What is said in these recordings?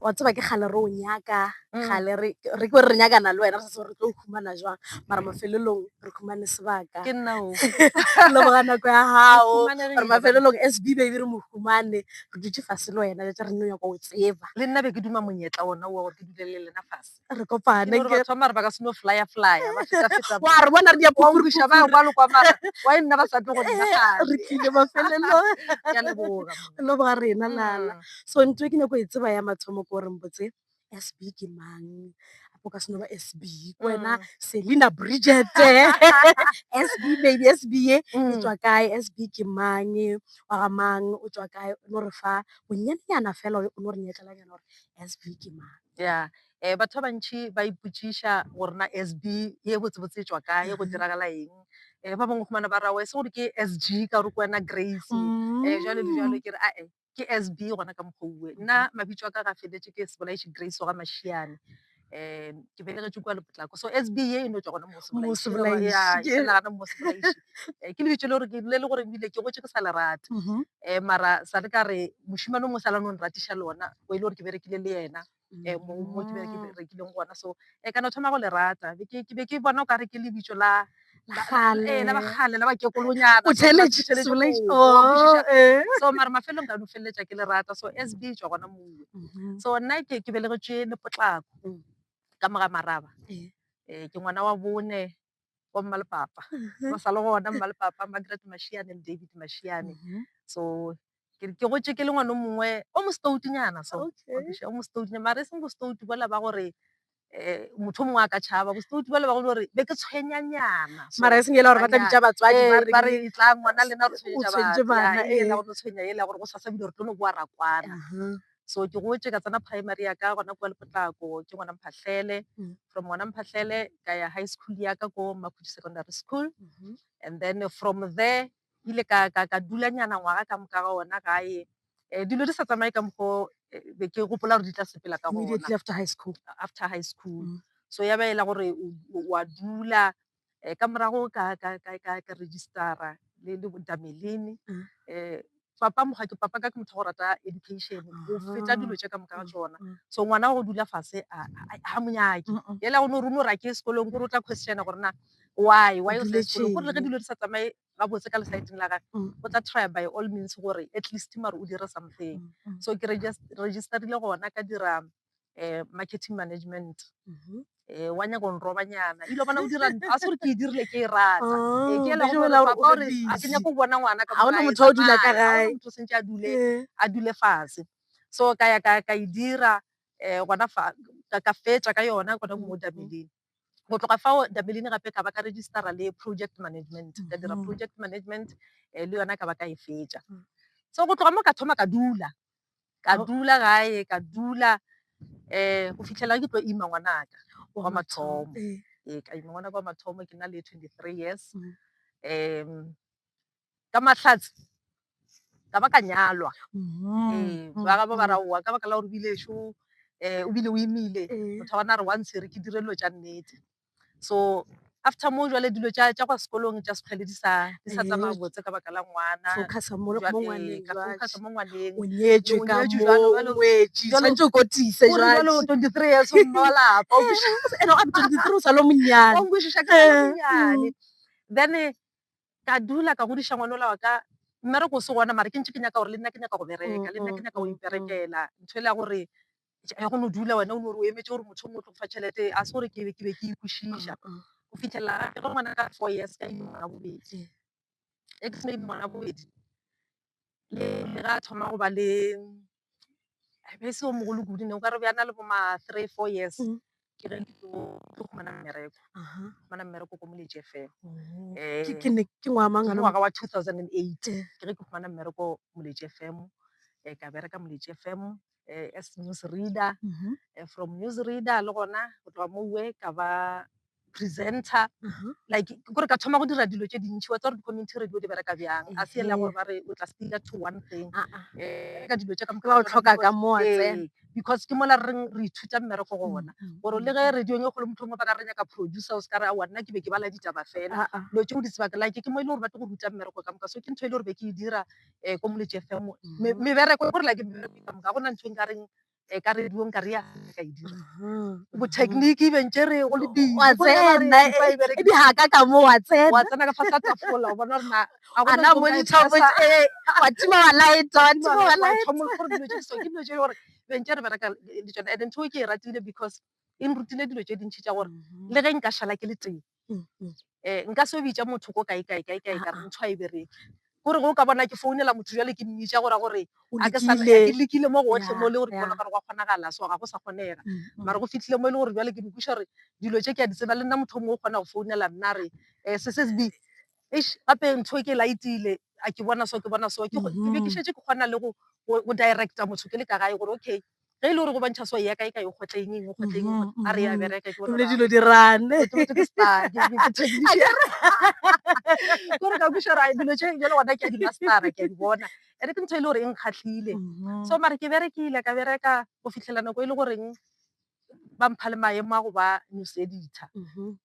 wa tseba ke kgale re o nyaka kgale re re ke re nyakana le wena re sa tsebe re tlo o humana jwang mara mafelelong re humane sebaka ke nna o leboga nako ya gago re mafelelong s b baby re mo humane re dutse fase le wena jatsa re nne nyako o tseba le nna be ke duma monyetla ona wa gore ke dule le lena fase re kopane ke batho mara ba ka seno flyer flyer ba feta feta wa re bona re dia go ruša ba kwa lokwa mara wa nna ba sa tlo go nna ga re tlile ba felelo ya leboga lo ba rena lala mm. so ntwe ke ne go e tseba ya mathomo go re mbotse SB ke mang o ka seno ba SB wena mm. Selina Bridget SB baby SB e mm. tswa kae SB ke mang wa ga mang o tswa kae no re fa bonyenyana fela o no re nyetlela nyana gore SB ke mang Ya, um batho ba bantšhi ba ipotšiša gore na SB ye botsebotse e tšwa kae, go diragala eng. um ba bangwe humana ba ra oe se gore ke SG ka gore ke wena Grace, um jwalo le jwalo. Ke re ae ke SB gona ka mokgwa oe. Nna mabitso a ka ga feletše ke Sebolaiši Grace wa Mašiane, um ke belegetšwe kua Lepotlako. So SB ye e no tšwa gona mo go Sebolaiši. Ya, e felela gana mo go Sebolaiši. um ke lebitso le gore le le gore ebile ke gotše ke sa le rata, um mara sa le ka re mošemane o mongwe sa la no nratiša lona. o e le gore ke berekile le ena um mo ke berekileng gona so um kana o thoma go le rata ke be ke bona o kare ke lebitso la ee la bagale la bakekolonyana so mare mafelong ka no feleletsa ke le rata so as b tswa gona mongwe so nna ke ke belegetšwe le potlako ka moga maraba um ke ngwana wa bone wa mmalepapa ba sa le gona mmalepapa margaret mashiane le david mashiane mhm. so ke ke gotse ke le ngwana o mongwe o mostoutunyana so o mostoutunyana mare e seng bostoutu bola ba gore um motho o mongwe a ka tšhaba bostoutu bola ba go gore be ke tshwenyanyana mara e seng ela gore ba tla bitsa batswadi eh, ba re tla ngwana lena re tshwenyetsa bana e ela gore tshwenya e ela gore go sa sa bile gore tlo no boa rakwana So ke gotše ka tsena primary ya ka gona kua Lepotlako, ke gona Mphahlele. From gona Mphahlele ka ya high school ya ka ko Makhutši Secondary School. And then from there ke ile ka, ka, ka dulanyana ngwaga ka moka ga ona gae. Eh, dilo di sa tsamaye ka mokgwa o eh, be ke gopola gore di tla sepela ka gona Immediately after high school. after high school Mm. so ya ba e la gore o- o- wa dula um ka morago ka registera le Damelin. um Papa mokgwa ke papa ka ke motho wa go rata education go feta dilo tše ka moka ga tsona so ngwana go dula fase ga monyake ela o ne o rune gore a ke ye sekolong kore o tla questiona gore na why why o sa ye sekolong kore le ge dilo di sa tsamaye gabotse ka lesaeteng la gage o tla try by all means gore at least mare o dire something so ke registerile gona ka dira um marketing management mhm. eh, wa nyaka go nrobanyana ebile bona o dira a se gore ke e dirile ke e rata oh, eh, ke ela gore papa gore a ke nyako go bona ngwana ka ona motho o dula ka gae motho sentse a dule eh. a dule fatshe so ka ya ka e dira um gona ka fetsa ka yona gona mo dameleng go tloga fao dameleng gape ka ba ka registera le project management ka dira mm-hmm. project management um le yona ka ba ka e fetsa mm. so go tloga mo ka thoma ka dula ka dula gae ka dula um go fitlhelela ke tlo ima ngwanaka wa mathomo ee ka ima ngwanaka wa mathomo ke na le twenty three years um ka mahlatse ka ba ka nyalwa ee ba gabo ba ra owa ka baka la gore o bile ešo um o bile o imile motho wa bona a re wa ntshwere ke dire dilo tša nnete so after moo jwale dilo tša tša kwa sekolong tša sekgwele di sa di sa tsamaya Eyo. botse ka baka la ngwana focusa mo Jwale, mo ngwaneng ka jwale. focusa mo ngwaneng o nyetšwe O ka nyetšwe jwalo, moo jwalo. o wetše Jwalo- tshwanetse o kotise Gore jwale jwale 23 years o mme wa lapa o kwešiša- ene gape twenty three o sa le o monyane o nkwešiša ka Eh, monyane then eh, ka dula ka godiša ngwana ola wa ka mmereko o se gona mara ke ntse ke nyaka gore le nna ke nyaka go bereka le nna ke nyaka go Mm, mm, mm. iperekela ntho e le ya gore ya go no dula wena o no re o emetse gore motho o motlo fa tšhelete a se gore ke be ke ikwešiša go fitlhelela gape ge ngwana ka four years ka imo ngwana bobedi ex maybe ngwana bobedi le ga a thoma go ba le be se o mogolo kudu ne o ka re bjana le boma three four years ke ge ke tlo ke tlo fumana mmereko Aha. fumana mmereko ko moletše fela Mhm. Eh, Ke- ke ne- ke ngwaga mang ke gana ngwaga wa 2008 Eh. ke ge ke fumana mmereko moletše fm um ka bereka moletše fm um as news reader Mhm. Eh, from news reader le gona go tloga mowe ka ba presenter Aha. like ke gore ka thoma go dira dilo tše dintšhi wa tsa gore di-community radio di bereka bjang a se ele ya Ehe. gore ba re o tla sticker to one thing Ah, ah. um ka dilo tše ka Ke ba o tlhoka ka mo wa tsena. Ee. because ke mola re reng re ithuta mmereko go ona gore le ge radiong e kgolo motlhongwe ba ka re nyaka producer o se ka re aowa nna ke be ke bala ditaba fela dilo tseo di sebaka like ke mo e le gore ba tlo go ruta mmereko ka moka so ke ntho e le gore be ke e dira um ko moletši fm mebereko gore like mebereko ka moka go na ntho e nkareng um ka radiong ka re ya ka e dira botechnique bentše re go le bibe ga ka ka mo wa tsena wa tsena ka fa sa tafola o bona gore na ana monitor o botse ee wa tima wa laeta wa tima wa laeta ke dilo tse gore beng tse re bereka le tsone and ntho e ke e ratile because e nrutile dilo tse dintšhi tša gore mm-hmm. le ge nka šala ke le tee um nka se o bitša motho ko kae kae kae kae ka re ntho a e bereke gore go ka bona ke founela motho jale ke mmitša gora gore ke lekile mo gotlhe mo e le gore ke bona gore gwa kgonagala so ga go sa kgonega mm-hmm. mare go fitlhile mo e le gore jale ke dikweša gore dilo tse ke a di tseba le nna motho o mongwe o kgona go founela nna re um eh, ssb eish gape ntho e ke laetile a ke bona so ke bona so ke go- ke be ke Mhm. šetse ke kgona le go go go directa motho ke le ka gae gore okay ge e le gore go bontšha so ya ka e ka e kgotla eng eng e kgotla eng e Mhm, kgotla- a re ya mhm. bereka ke bona ebile gore, dilo di rane ke motho ke star ke ke- ke technician gore ka buša ra dilo tše bjale gona ke a dimastara ke a di bona ande ke ntho e le gore e nkgatlhile Mhm. so mare ke berekile ka bereka go fitlhela nako e le goreng ba mpha le maemo a go ba news editor Mhm.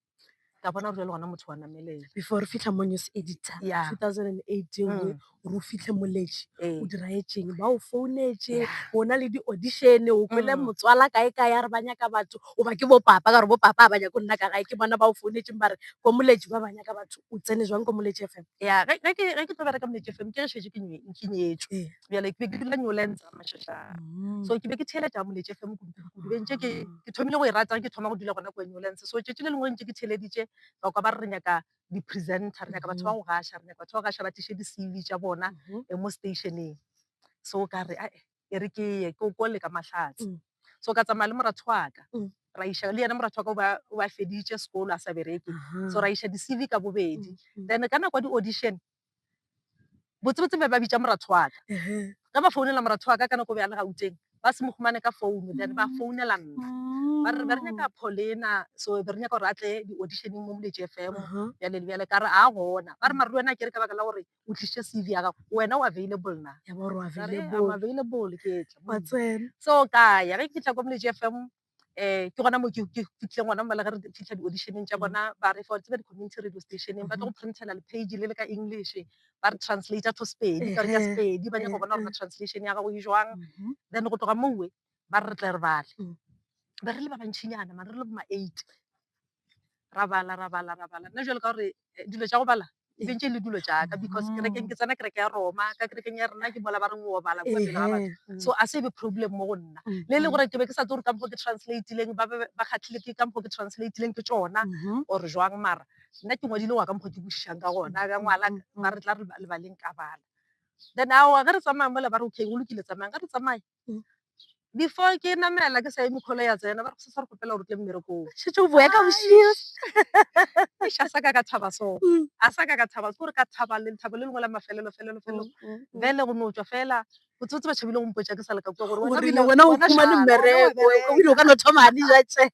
ka bona gore le gona motho wa namelela before re fitlha mo news editor Yeah. 2018 Mm. gore o fitlhe moletši Ee. o dira etseng ba o founetse Yeah. o na le di-audition o kwele Mm. motswala kae kae a re ba nyaka batho o ba ke bopapa ka gore bopapa a ba nyako nna ka gae ke bona ba o founetseng ba re ko moletši ba ba nyaka batho o tsene jwang ko moletši fm ya ge ge ke ge ke tlo bereka moletšefeng ke re šetse ke nye- ke nyetswe Ee. bjale ke be ke dula new lands ga mašašana mm. so ke be ke theeletša moletše fe mokudukudu be ntše ke thomile go e ratang ke thoma go dula gona ko new lands so tšetši le lengwe ntše ke theeleditše ba kwa ba re re nyaka di-presenter re nyaka batho ba go gaša re nyaka batho ba go gaša ba tliše di-cv tša bona mm-hmm. eh, mo stationeng so ka re ae e re ke ye ke o kole ka mahlatse mm. so ka tsamaya le moratho wa ka mm. ra iša le yena moratho wa ka o ba feditše sekolo a sa bereke so ra iša di-cv ka bobedi then ka nako ya di-audition botsebotse be ba bitša moratho wa ka ge ba founela moratho wa ka ka nako be a le gauteng ba se mo humane ka founu then ba founela nna ba re be re nyaka paulina so be re nyaka gore a tle di-auditioneng mo moletši fm bjale le bjale ka re a gona ba re mare le wena ke re ka baka la gore o tlisitše c v ya gago wena o available na available ke tla so ka ya ge ke fitlha ko moletši fm um ke gona mo ke fitlhileng gona mo le ge re fitlha di-audition-eng tša bona ba re fa wa tseba di-community radio stationeng ba tlo go printela le-page le le ka English ba re translator to Sepedi ka re ka Sepedi ba nyaka go bona gore translation ya gago e jwang. Then go tloga mowe ba re re tle re bale be re le ba bantšhinyana mare re le bo ma-eight ra bala ra bala ra bala. Nna jwalo ka gore eh, dilo tša go bala e be ntše le dilo tša ka because mm. kerekeng ke tsena kereke ya roma ka kerekeng ya rena ke mola ba reng o bala kua pele ga batho mm. so a se be problem mo go nna mm. le le gore ke be ke sa tse gore ka mokgo ke translatileng ba ba kgatlhile ke ka mokgo ke translatileng ke tsona mm-hmm. or jwang mara nna ke ngwadile wa ka mokgo ke bušišang ka gona ka ngwala ba re tla re lebaleng ka bala then ao ge re tsamaya mola ba re okay go lokile tsamayang ge re tsamaya before ke namela ke sa eme kholo ya tsena ba re se sa re kopela gore tle mmerekong shetse o boya ka bošio a sa ka ka thaba so mm. a sa ka ka thaba gore ka thaba le thabo le lengwe la mafelelo felelo felelo bele go no tswa fela o tsotse ba tshabile go mpotsa ke sa leka kwa gore wena wena o kuma le mmereko o ile ka no thoma di ja tse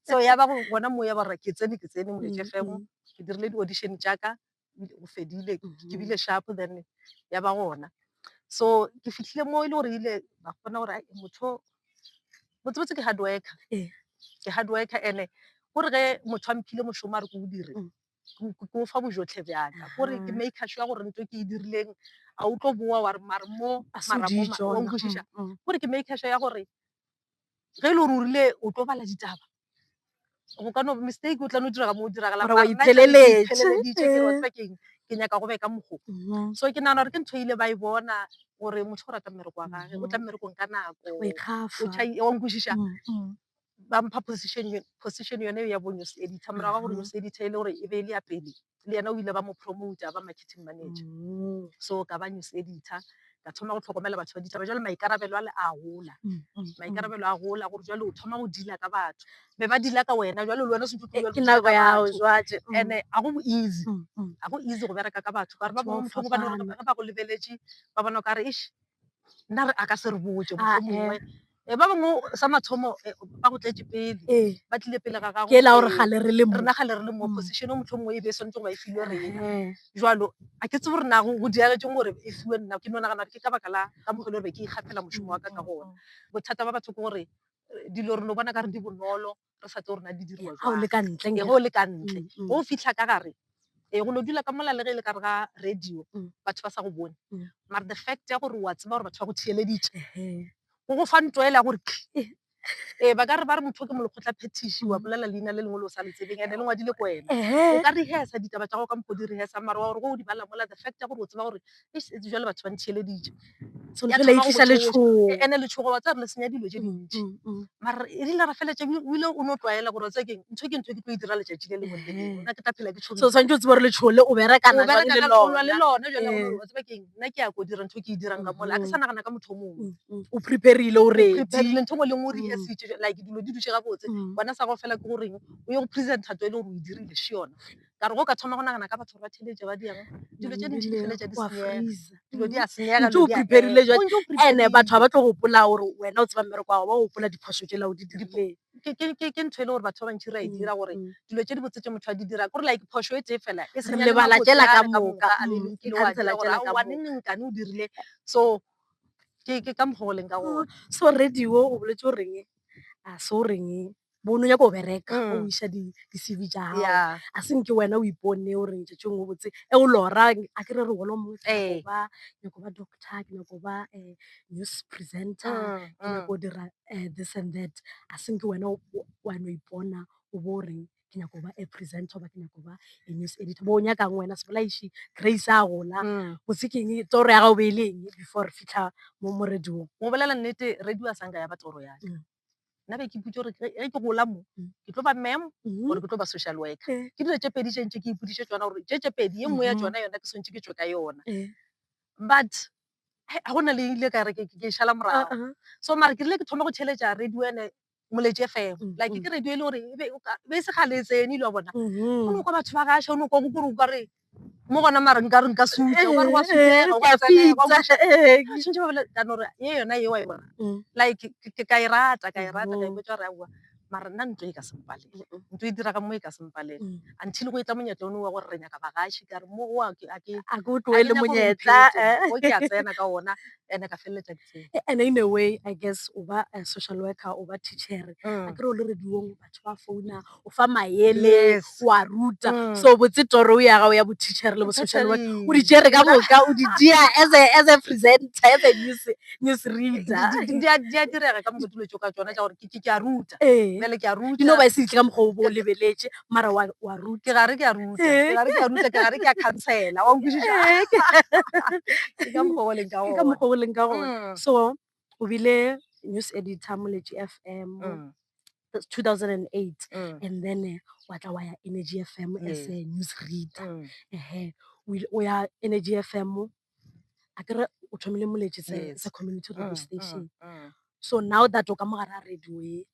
so ya ba go bona moya ba re ke tsene ke tsene mo lejefego ke dirile di audition tša ka go fedile ke mm-hmm. bile sharp then ya ba gona so ke fitlhile mo e le gore ile ba kgona gore motho botsebotse ke hard worker ee. ke hard worker ene gore ge motho a mphile mošomo a re ko o dire mm. ke o fa bojotlhe bjaka gore ke maker sure gore nto ke e dirileng a o tlo boa wa re mare mo maramoa o nkwešiša gore ke maker sure ya gore ge e le gore o rile o tlo bala ditaba go ka no mistake o tla no diraga mo o diragala Mara wa itheleletše. itheleleditše ke rotsa keng ke nyaka go be ka mokgo Mhm. so ke nagana gore ke ntho e ile ba e bona gore motho o rata mmereko wa gage o tla mmerekong ka nako O ikgafa. o tšhai- wa nkwešiša Mm, mm. ba mpha position yo- position yone eo ya bo news editor morago ga gore news editor e le gore e be e le ya pele le yena o ile ba mo promoter a ba marketing manager. Mm. So ka ba news editor, ka thoma go tlhokomela batho ba ditaba. Jwale maikarabelo a le a gola. Mm, mm, mm. Maikarabelo a gola gore jwale o thoma go dila ka batho. Be ba dila ka wena, jwale le wena o sentse o Eh, tlogela ke go dila nako ka ya hao batho. jwale. Mm, And eh, ga go bo easy. mm, mm. ga go easy go bereka ka batho kare ba Batho ba bangwe motlhoko ba ne fapana. ge ba go lebeletše ba bona o kare ish nna re a ka se re botse Ah, mohlomongwe Eh, ba bangwe sa mathomo eh, ba go tletše pele ee ba tlile pele ga gago ke la gore eh, gale re le mo rena gale re le mo Mm. position o motlho mongwe e be e swanetse go ba e filwe rena Ehe. jalo a ke tsebo gore nago go diragetseng gore e fiwe nna ke no nagana gore ke ka baka la ka mokgwa e le gore be ke ikgapela mošomo wa ka ka gona bothata ba batho ke gore eh, dilo re no bona ka re di bonolo re sa tlo rena di diriwa ga o le ka ntle ge o le ka ntle mm, mm. o fitlha ka gare e go no dula ka mola le ge e le ka re ga radio mm. batho ba sa go bone mara the fact ya gore wa tseba gore batho ba go theeleditše go go fa nto ela gore ee ba ka re ba re motho ke molokgotla phetiši wa bolela leina le lengwe le o sa le tsebeng ande le ngwadile ko wena o ka rehesa ditaba tsa go ka mokgodi rehesa mara wa gore go o di bala mola the fact ya gore o tseba gore eish etse jwale batho ba ntheeleditše So, Ya re thoma go laetisa le tšhoša. tšhogo. E- ene letshogo wa tsaya re le senya dilo tše dintši Mm, mm. mara e rile ra feletša ebile o ile o no tlwaela gore wa tsaya keng ntho ke ntho e ke tlo e dira letšatši le lengwe le lengwe Ehe. nna ke tla phela ke tshogile so tshwanetse o tsebe gore letshogo le o berekana o jwang bereka le ka lona le lona lona jale Eh. gore wa tseba keng nna ke ya ko dira ntho e ke e dirang ka mole a ke sa nagana ka motho o mongwe Mm, mm. o preparile o ready preparile ntho ngwe le ngwe o Mm. rehearsitše like dilo di dutše gabotse Mm. gona sa go fela ke goreng o ye go presenta to e le gore o e dirile še yona ka re go ka thoma go nagana ka batho ba theletša ba diang dilo tše dintši di feletša di senyega dilo di a senyega ntse o preparile jwa ene batho ba tlo gopola gore wena o tseba mmereko wa ba gopola diphoso tše lao di dirile ke ntho e le gore batho ba bantši ra e mm, dira gore mm. dilo tše di botse tše motho a di dira kore like phoso e tee fela e senyalebala tšela ka moka mm, e khansela tšela ka moka nengkane o dirile so ke ka mokgwa o leng ka gona so radio o boletse o reng a se o reng bono nyako bereka o mm. iša di-cv ja gago yeah. a senke wena o ipone o reng tšatši ngwe botse e o lora a ke re re wolo mongwe ke nyako eh. ba nyako ba doctor ke nyako ba um news presenter mm, ke nyako mm. dira um this and that a senke wena wano ipona o bo reng ke nyako ba a presenter ba ke nyako ba a news editor bo o nyakang wena sebolaiši grace a gola botse keng toro ya gago be e leng before re fitlha mo morediong mo bolela nnete radio a sanka ya ba toro yaka nna be ke iputse gore ge ke gola mo mm. ke tlo ba mem mm-hmm. gore ke tlo ba social worker eh. ke dilo tse pedi tse ntse ke ipudiše tsona gore tse tse pedi ye nngwe ya mm-hmm. tsona yona ke swantse ke tswe ka yona eh. but ga go na le ile ka re ke šala morago uh-huh. so mare ke rile ke thoma go theletša radio ene moletse fm mm-hmm. like ke radio e le gore e be e se gale tsene ile wa bona o ne kwa batho ba gaša o ne kwa gore o kare mo gona mare nka re nka suta o ka re wa sutega o ka tsenega o ka tšha ee ke šentše ba bile ka no re ye yona ye wa e bona like ke- ke- ka e rata ka e rata ka e botša gore aowa mara nna ntho e ka se mpalele ntho e dira ka mo e ka se mpalele until go e tla monyetla one wa gore re nyaka bagaši ka re mo wa ke a ke a ke o tloele a ke nyako gore monyetla mphete. eh. o ke a tsena ka ona ene ka feleletša ke tsene E- and in a way i guess o ba eh, social worker o ba teacher a Mm. kere o le rediong batho ba founa o fa maele Yes. wa ruta Mm. so botse toro ya gago ya boteacher le bo-social work o di tšere ka moka o di dia as a, as a presenter as a news, news reader Di- di- di a- di a direga ka moka dilo tso ka tsona tša gore ke- ke ke a ruta Ee. bjale ke a ruta dino ba e se ditle ka mokgwa o bo o lebeletše mara wa wa ruta ke gare ke a ruta Ee. ke gare ke a ruta ke gare ke a khansela wa nkwešiša ke ka mokgwa o leng ka ke ka gona. mokgwa o leng ka gona Mm. so o bile news editor mo letši fm Mm, 2008 mm, and then eh, wa tla wa ya energy fm as Yes. a news reader mm, ehe o ile- o ya energy fm a kere o thomile moletši se Yes. se community mm, radio mm, station mm. so now that o ka mogare a radio e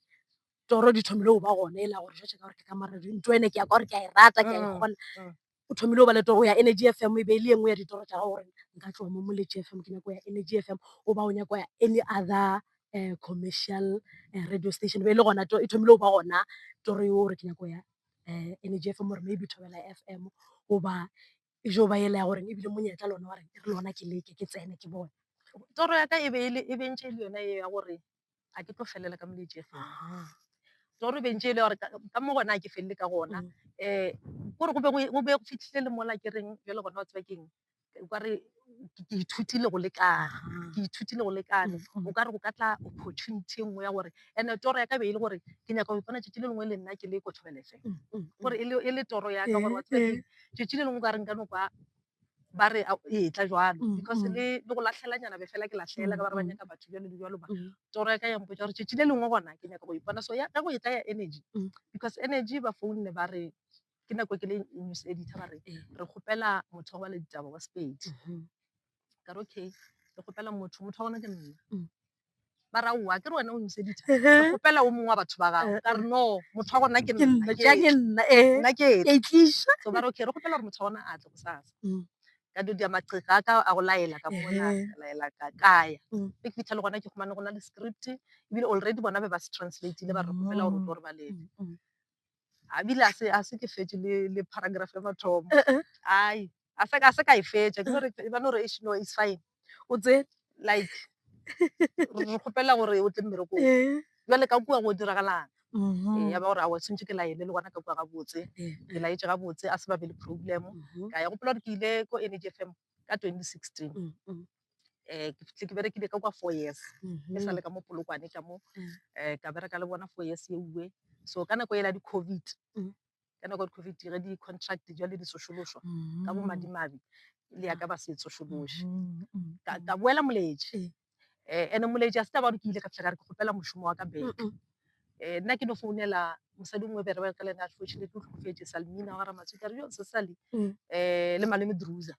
toro di thomile go ba gone e la gore jwale ka gore ke ka maradio nto ene ke ya ka gore ke a e rata ke a e Mm, kgona mm. o thomile go ba le toro ya energy f m e be e le ye nngwe ya ditoro tša gago gore nka tloga mo moletši f m ke nyako ya energy f m o ba o nyako ya any other um commercial um radio station e be e le gona e thomile go ba gona toro eo gore ke nyako ya um energy f m gore maybe thobela f m goba e jo ba ela ya goreng ebile monyetla lona wa reng e re lona ke leke ke tsene ke bone toro ya ka e be e le e bentše e le yona e ya gore ga ke tlo felela ka moletši e fela. Toro e bentše e le gore ka mo gona ga ke felele ka gona. Um kore go be go be go fitlhile le mola ke reng bjale gona wa tseba keng kare ke ithutile go lekana, ke ithutile go lekana. O kare go ka tla opportunity e nngwe ya gore, and-e toro ya ka e be e le gore ke nyaka go ipona tšatši le lengwe le nna ke le ko Thobela FM. Kore e le toro ya ka gore wa tseba keng, tšatši le lengwe o kare nka no kwa ba re a- ee tla jwalo Mm, because mm. le le go lahlelanyana be fela ke lahlela ka ba re ba Mm, nyaka batho jalo le jalo ba Mm. toro ya ka ya mpotsa gore tšatši le lengwe gona ke nyaka go ipona so ya ge go e tla ya energy Mm. because energy ba founne ba re ke nako ke le news editor ba re Ee. re kgopela motho wa le ditaba wa sepedi Mhm. ka re okay re kgopela motho motho wa gona ke nna Mm. ba ra owa kere wena o noseditha ke kgopela o mongwe wa batho ba gago ka re no motho wa gona ke nna ke ake nna eh nna ke ka itliša so ba re okay re kgopela gore motho wa gona a tle bosasa Mm. ka do dia maqheka a ka a go laela ka mona Ehe. ka laela ka kaya Mm. e ke fitlha le gona ke khumane go na le script ebile already bona be ba se translateile ba re kgopela gore o tlo re balele Mm, mm. a bile a se a se ke fetše le le paragraph ya mathomo ai a se ka a se ka e fetša ke no re ba no re eish no it's fine o tse like re kgopela gore o tle mmerekong jale ka kua go diragalang ee ya ba gore a wa tshwanetse ke laele le gona ka kua gabotse ke laetse gabotse a se ba be le problem ka ya gopola gore ke ile ko energy fm ka 2016 um ke fihle ke berekile ka kwa four years ke sa le ka mo polokwane ka mo um ka bereka le bona four years eue so ka nako ela di-covid ka nako ya di-covid ge di-contract jale di sošološwa ka bo madimabe le ya ka ba se tsošološe ka boela moleje um ande moleje a se taba gore ke ile ka fitlha ka re ke kgopela mošomo wa ka beke um nna ke no founela mosadi o mongwe be re bereka le ene unfortunately o tlhokofetse salmina wa ramatswi ka re yo sesali um le malome drusa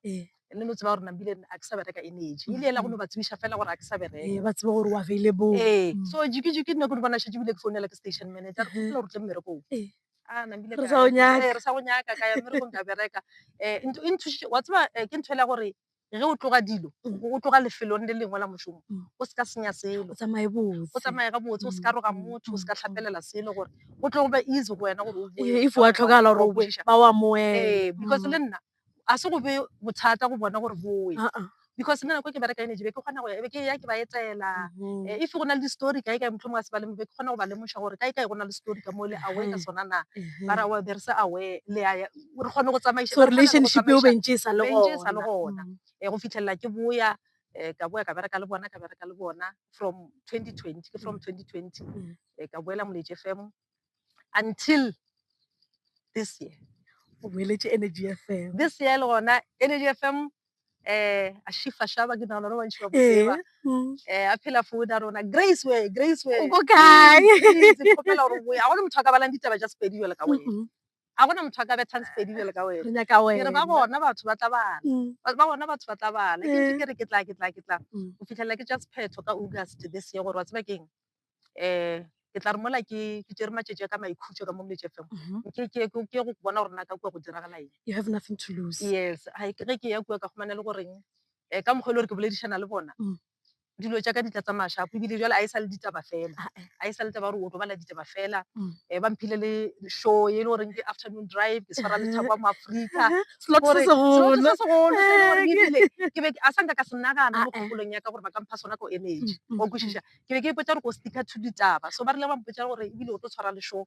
le no tseba gore nambile a ke sa bereka energy ile ela go no ba tsebiša fela gore a ke sa bereka ba tseba gore o available ee so jikijiki nna ke no bona šetse bile ke founela ke station manager re kgopela gore tle mmerekong a nambile re sa go nyaka ka ya mmerekong ka bereka um e nthušitše wa tseba ke ntho ele gore Ge o tloga dilo, o tloga lefelong le lengwe la mošomo, o se ka senya selo. O tsamaye botse. O tsamaye gabotse, o se ka roga motho, o se ka hlapelela selo gore go tlo ba easy go wena gore o bowe. If wa tlhokagala gore o bowe, ba o amohele. Ee, because le nna a se go be bothata go bona gore bowe. Because nna nako e ke bereka yone, ke be ke kgona go ya, e be ke eya ke ba etela. If go na le di-story kae kae, mohlomongwe ga se ba le mo, be ke kgona go ba lemoša gore kae kae go na le story ka mo le aware ka sona na. Ba re, Aowa, be re se aware, le a ya. gore kgone go tsamaiša so relationship eo bentše e sa le gona um go fitlhelela ke boya um ka boya ka bereka le bona ka bereka le bona from 2020 ke from 2020 um mm. eh, ka boela moletše fm until this year o boeletše energy fm this year le gona energy fm eh a shifa shaba ke nagana gore bantši ba botseba eh, mm. eh a phela food a rona grace way grace way o kae ke kgopela gore boya a gone motho a ka balang ditaba ja sepedi jale ka wena Ga go na motho a ka bethang Sepedi bjalo ka wena. Re nyaka wena. Ke re ba gona batho ba tla bala. Ba gona batho ba tla bala. Ke ntše ke re ke tla, ke tla, ke tla. Go fihlelela ke tša sephetho ka August this year gore wa tseba ke eng um ke tla re mola ke tšere matšatši a ka maikhutšo ka mo Mdletshe FM ke ke ke ke go bona gore na ka kua go diragala eng. You have nothing to lose. Yes, ge ke ya kua ka kgomana le goreng um ka mokgwa e le gore ke boledišana le bona dilo tša ka di tla tsamaya shapo ebile jale a e sa le ditaba fela a e sa le taba gore o to bala ditaba fela um ba mphile le show e le goreng ke afternoon drive ke tshwara lethabo wa moaforika ke be a sanka ka se nagana mo kgopolong ya ka gore ba ka mpha sona ko energy o kwešiša ke be ke ipotsa gore ko sticker to ditaba so ba rile ba mpotsa gore ebile o tlo tshwara le show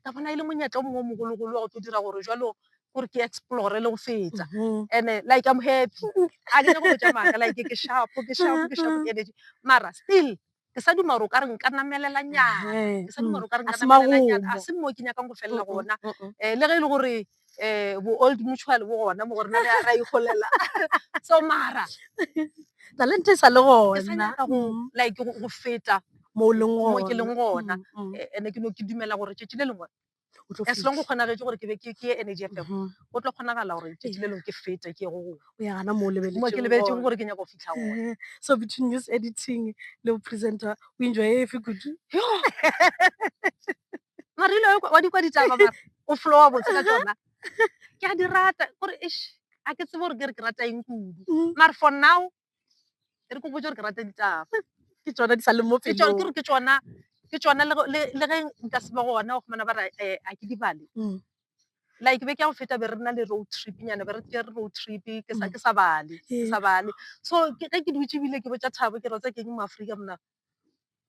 ka bona e le monyetla o mongwe o mogologolo wa go tlo dira gore jalo gore ke explore le go fetsa and-e like I'm happy ga ke nyako botsa maaka like ke shapo ke shapo ke shapo energy mara still ke sa duma gore o ka re nka namelela nyana ke sa duma gore o ka re nka namelela nyana a se mo ke nyakang go felela gona um le ge e le gore um bo old mutual bo gona mo gore na re ra ikgolela so mara talente e sa le gona ke sa nyaka go like go feta mo ke leng gona and-e ke no ke dumela gore tšatši le lengwe o tlo as long go kgonagetše gore ke be ke ke ye energy fm Mhm. go tlo kgonagala gore tšatši le lengwe ke fete ke ye go gongwe o ya gana mo o mo ke lebeletseng lebeletsego gore ke nyaka go fitlha gone Eh, so between news editing le presenter o enjoy e fe kudu mare ile wa di kwa ditaba mara o flowa botse ka tsona ke a di rata kore ish a ke tsebe gore ke re ke rata eng kudu Mm. mare for now e re ko botse gore ke rata ditaba ke tsona di sa leng mo ke tšone ke pelong gore ke tsona ke tsona le go- le le ge nka se be gona go fumana ba re eh, a ke di bale Mm. like be ke ya go feta be re na le road trip nyana be re ke re road trip ke sa ke sa bale ke sa bale so ke ge ke dutse ebile ke botsa thabo ke rotsa ke eng mo aforika mona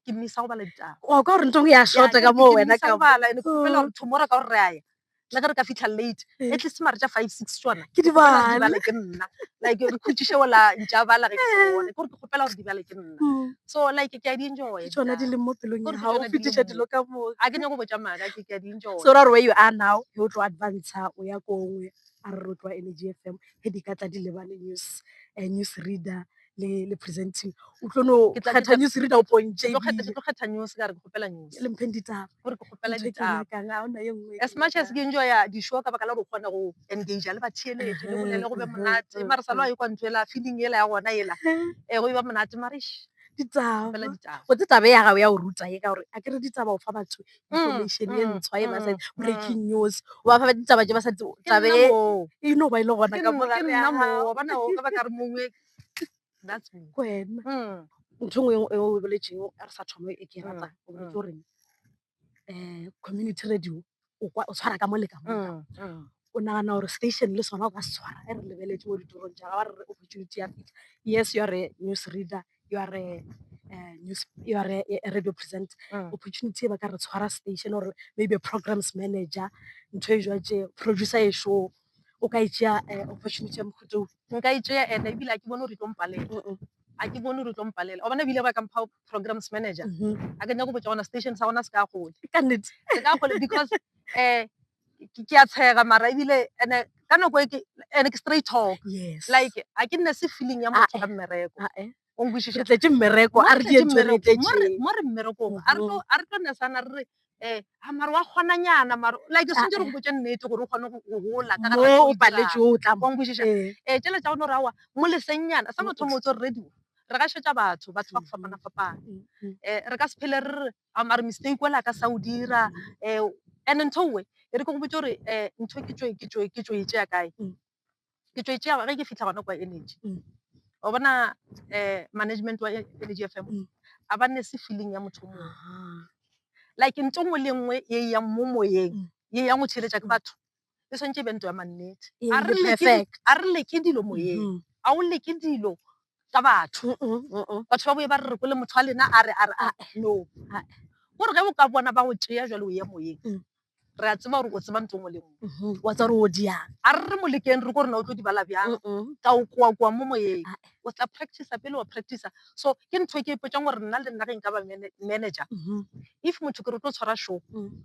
ke mmisa go bala ditaba o ka gore nto go ya shorta ka moo wena ka bala ene ke fela gore tomorrow ka gore re aya le ge re ka fitlha late eh. at least mare tša five six tsona ke di bala ke nna like re khutšiše ola ntša bala ge ke eh. bone gore ke kgopela gore di bale ke nna hmm. so like ke a di enjoy tsona di leng mo pelong ya gago fetiša dilo ka moo a ke nyako botša maaka ke ke a di enjoy so ra re where you are now yo tlo advance o ya ko nngwe a re rotloa energy f m ge di ka tla di lebale news eh, news reader le le presenting o tlo no Ke tla- ke kgetha tla- news reader o pontše Ke tlo kgetha- ke ebile tlo kgetha news ka re ke kgopela news le mpheng ditaba gore ke kgopela Ntho e ke ditaba nyakang, ha hona e nngwe e as ke much as nyakang. ke enjoya di-show ka baka la gore o kgone go engage le batheeletše le bolele go be Mhm, monate mhm, mara sa lo a ekwa ntho ela feeling ela ya gona ela e go e ba monate marish ditaba fela ditaba go tse taba ya gago ya go ruta ye ka gore a ke re ditaba o fa batho information e ntshwa e ba sa breaking news o ba fa ba ditaba tse ba sa tsabe e no ba e le gona ka mogare ya gago bona o ka ba ka re mongwe that's me kwena ntho e nngwe e o boletseng a re sa thoma e ke e ratang o boletse gore um community radio o tshwara ka mo le ka mo o nagana gore station le sona o ka se tshwara e re lebeletse mo ditorong tša ga re re opportunity ya fitlha yes you are a news reader you are a eh, news you are a, a radio present mm. opportunity e ba ka re tshwara station or maybe a programs manager ntho e jwa tše producer e show o ka itsea um eh, opportunity ya mohuto nka itsea ene ebile a ke bone gore e tlo mpalela a ke bone gore tlo mpalela obane ebile ba kampha programs manager mm-hmm. a ke nyako botsa gona station sa gona se ka gole ka nnete se ka gole because um ke a tshega mara ebile ene ka nako e ke ene ke straight talk yes like a ke nne se feeling ya motho ka mmereko o nkwishiša tletse mmereko a re di ntse re tletse mo re mmerekong a re tlo a re tlo ne sana re eh a mara wa gona nyana mara like se ntse re go botse nnete gore o gone go gola ka ga o paletse o tla mo nkwishiša eh tšele tsa ona ra wa mo leseng nyana sa motho motho radio re ga shetsa batho batho ba go fapana fapana eh re ka se phele re a mare mistake o le a ka sa o dira um and-e ntho e nngwe e re ke go botse gore um ntho ke tšo e tšea kae, ke tšo e tšea ge ke fitlha gona kwa energy. Wa bona um management wa energy F_M ga ba nese feeling ya motho o mongwe like ntho e nngwe le e nngwe e yang mo moyeng e yang go theeletša ke batho e swantše e be ntho ya mannete Ee, a re le leke perfect. di- a re leke dilo moyeng Mhm. a o leke dilo ka batho Mm-mm, mm-mm. batho ba boye ba re re kwele motho wa lena a re a re a no Ah. gore ge o ka bona ba o tea jalo o ye moyeng Mm. re a tseba gore o tseba nto ngwe le nngwe Mhm. wa tsa gore o diang a re re mo lekeng re ko rena o tlo di bala bjang Mm-mm. ka o koakoa mo moyeng Ah. o tla practice pele wa practice so ke ntho e ke e potšang gore nna le nna ge nka ba mana- manager Mhm. if motho ke re o tlo tshwara show Mm.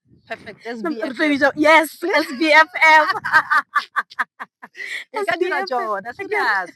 Perfect. SBFF. Yes, SBFF.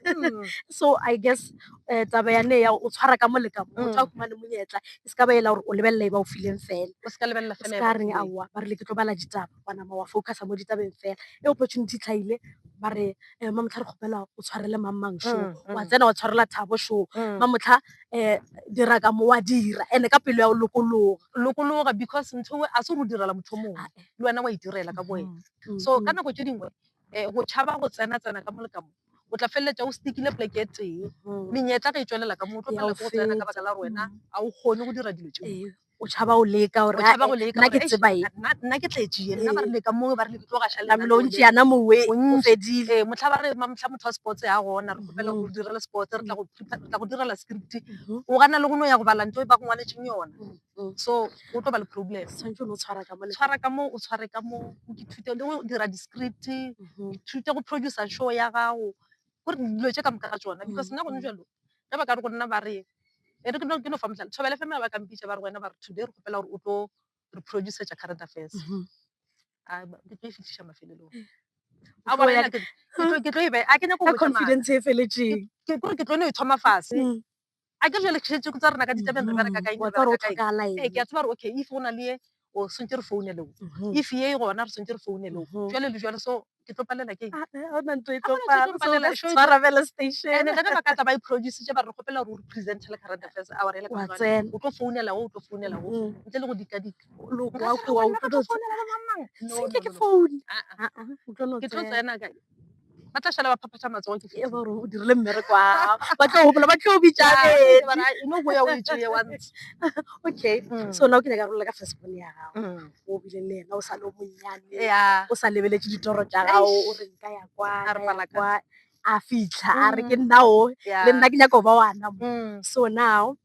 Hmm. so i guess um taba ya ne ya o tshwara ka moleka motho a hmm. kumane monyetla e se ka ba ela gore o lebelela e ba o fileng fela o se ka lebelela fela ka reng aowa ba rile ke tlo bala ditaba wa nama wa focusa mo ditabeng fela e opportunity tlhaile ba re um eh, mamotlha re kgopela o tshwarele mang mang show hmm, wa tsena wa tshwarela thabo show mamotlha um dira ka mo wa dira and ka pelo ya go lokologa lokologa because ntho e a se go direla motho mongwe ah, eh. le wena wa itirela e ka boena mm, mm, so ka mm. nako tse dingwe um go tšhaba go tsena tsena ka mole ka mo o tla feleletša o stikile poleke e tee menyetla ge e tswelela ka mo o tlo felela go tsena ka baka la wena ga o kgone go dira dilo tšeo o tšhaba go leka gore nna ke tseba e nna ke tletše ye nna ba re leka moo ba re le tlo ga šale namelo o ntše yana mowe o fedile ee motlha ba re motlha motho wa sports ya gona re kgopela go direla sports re tla go tla go direla script o gana le go no ya go bala nto e ba go ngwaletšeng yona so o tlo ba le problem tshwanetse o tshwara ka mo tshwara ka mo o tshware ka mo o ithute le go dira di-script ithute go producer show ya gago ko re dilo tše ka moka ga tšona because nna gone bjalo ge ba ka re go nna ba re e re ke no fa mohlala Thobela F_M ha ba ka mpitša ba re go wena ba re today re kgopela gore o tlo re producer-tša current affairs a ke tlo e fihliša mafelelong a bona wena ke tlo ke tlo e bea a ke nyake go botša maka confidence e feletšeng ke gore ke tlo no e thoma fase a ke jale kgetše tsa rena ka ditabeng re bereka kae ee ke a tseba gore okay if go na le ye o swantse re foune leo if ye e gona re swantse re foune leo jale le jale so ke tlo palela ke ona ntho e tlo palela so tshwara fela station ene le ba ka tla ba produce tse ba re gopela gore o present le current affairs a re le ka tsena o tlo founela o tlo founela o ntle le go dika dika lo kwa kwa o tlo founela mang mang ke phone ke tlo tsena ka ba tla šala ba phaphatha matsogo ke e gore o dirile mmereko a ba tlo gopola ba tlo bitšano go ya o itse ye once okay mm. so now ke nyaka rolela ka fastball ya gago mm. o bile le ena o sa le o monnyane o sa lebeletse ditoro tša gago o re nka ya kwa a fitlha a re ke mm. nnao le nna ke nyaka o ba wana so now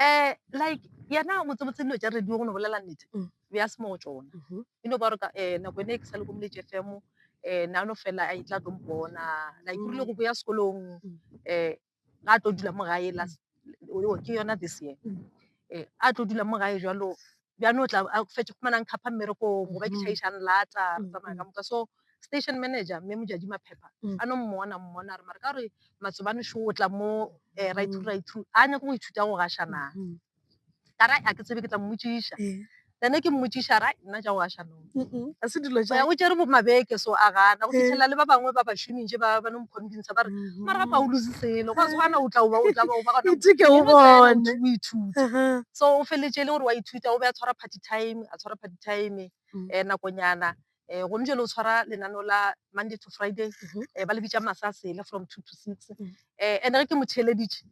um like yena motsebotse dilo tša radio go no bolela nnete Mm. be a se mo go tsona Mhm. e no ba gore ka- eh, nako ene e ke sa le ko moletše fm um na no fela a itla tlo mpona like o rile go boya sekolong Mm. um ga a tlo dula mo gae last o- o- ke yona this year Mm. um a tlo dula mo gae jalo bjano o tla a fetše go fumana nkhapha mmerekong goba ke tšhaiša nlata re tsamaya ka moka so station manager mme mojadi maphepha a no mmona mmona a re mare ka gore matsobane šo o tla mo um right through right through a nyake go ithuta go gasha na ka ra a ke tsebe ke tla mmotšiša then ke mmotšiša ra nna ja go gasha no a se dilo ja o tšere bo mabeke so a gana go fitlhelela le ba bangwe ba bašomitše ba ba no mokhombintsa ba re mara pa o lose selo go se gana o tla oba o tla ba o ba gona itike o bone o ithuta so o feletse le gore wa ithuta o be a tshwara party time a tshwara party time eh nakonyana eh go ntse lo tshwara lenano la monday to friday eh ba le bitsa masasele from 2 to 6 eh ene ke motheleditše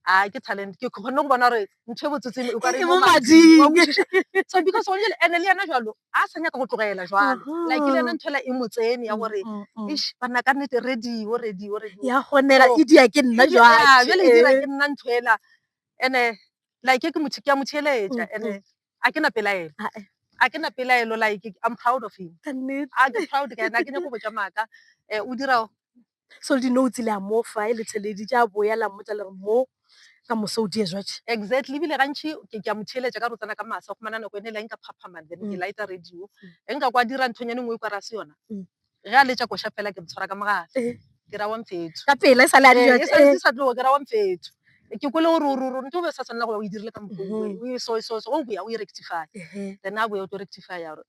a ke talent ke kgonne go bona gore ntho e botsetseng o ka re E mo mo mading. Wa kwešiša? so because one jale ene le yena jalo a sa nyaka go tlogela jalo Mhm. like le yena ntho ela e mo tsene ya gore Mm, mm, mm. ish banna ka nnete radio radio radio ya gonela So, e dia ke nna Ke- yeah, jwale jwale e dira ke nna ntho ela ene like ke motho ke a mo theeletša Mm, ene a ke na pelaelo Ah, eh. a ke na pelaelo like i'm proud of him kannete a ke proud ka ena a ke nyako botša maaka um o dira so le di-notes le a mofa e le theledi tša boya la mmotsa le re mo ka moso o die jwatše exactly ebile gantši ke ke a mo theeletša ka rotsana ka masa go manana nako ene le nka phaphamang then ke mm. laeta radio e nka kwa dira nthonyane nngwe e kwa ra se yona mm. ge a letša koša fela ke motshwara ka mogala eh. ke ra wa mfetho ka pela e sa le a eh, eh. sa tlogo ke ra wa mfetho ke kwele gore ororo nto be sa tshwanela go ya o e dirile ka mokgwa mm-hmm. o e so e so so o boya o e rectify then a boya o tlo rectify ya gore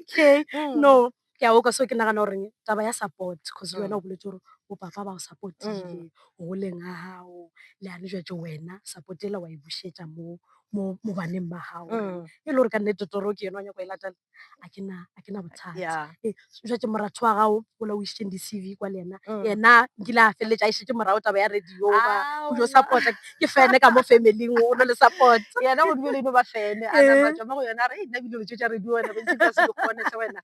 okay mm. no ke a oka so ke nagana goreng taba ya support cause le wena o boletse gore bopapa ba o supportile mm. goleng ga gago le a rejwetse wena support ela wa e bušetša mo mo baneng ba gago mm. e le gore ka nnete toro ke yone wa nyako e latela a ke na bothata jwetse moratho wa gago ola o išitšeng di-cv kwa le ena Mm. yena nkile a feleletša a išitše morago taba ya radio ba Ah, o jo wona. support ke fene ka mo familing o no le support yena go dibele ino ba fene a napa Mm. tšama go yona a re "Ei, nna bile lotso tša radio wena bentse ka se di kgone hle wena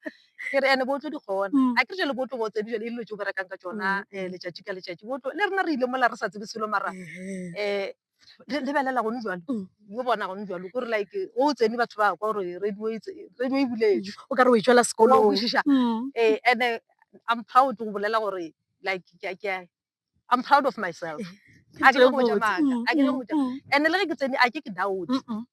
ke re ene bo tlo di kgona Mm. a ke re jale bo tlo bo tsedi jale e dilo tse o berekang ka tsona Mm, um letšatši ka letšatši bo tlo le rena re ile mola re sa tsebe selo mara um Le- lebelela gone jalo yo bona gone jalo kore like o tsene batho ba kwa gore radio e tse- radio e buletswe o ka re o e tšwela Wa sekolong kwešiša? Mm. Eh, and eh, i'm proud go bolela gore like ke a- ke a- i'm proud of myself Ke a ke nyako go botša tsebe maaka, botse. a ke nyako go botša. Mm, mm, and le ge ke tsene a ke ke doubt mm, mm.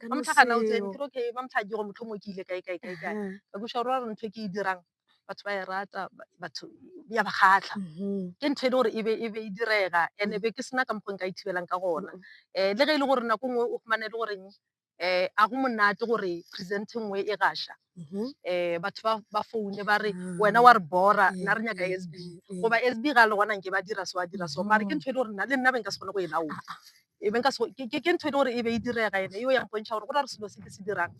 Ka ba no mohlagana o tsene seo. ke re okay ba mohlagi gore motlho mo ke ile kae kae kae kae Aha. ka buša gore wa re ntho e ke e dirang batho ba e rata ba- batho ya ba kgatlha Mhm. ke ntho e le gore e be e be e direga and be ke sena ka mokgwa nka e thibelang ka gona um le ge e le gore nako nngwe o fumane e le goreng um a go monate gore present e nngwe e gasha Mhm. um batho ba ba foune ba re Ah. wena wa re bora Eh, nna re nyaka eh, s b eh, eh. goba s b ga le gona nke ba dira so a dira so mare ke Mhm. ntho e le gore nna le nna be nka se kgone go e laola e be nka se go- ke- ke- ke ntho e le gore e be e direga ene eo ya mpontšha gore go na le selo se ke se dirang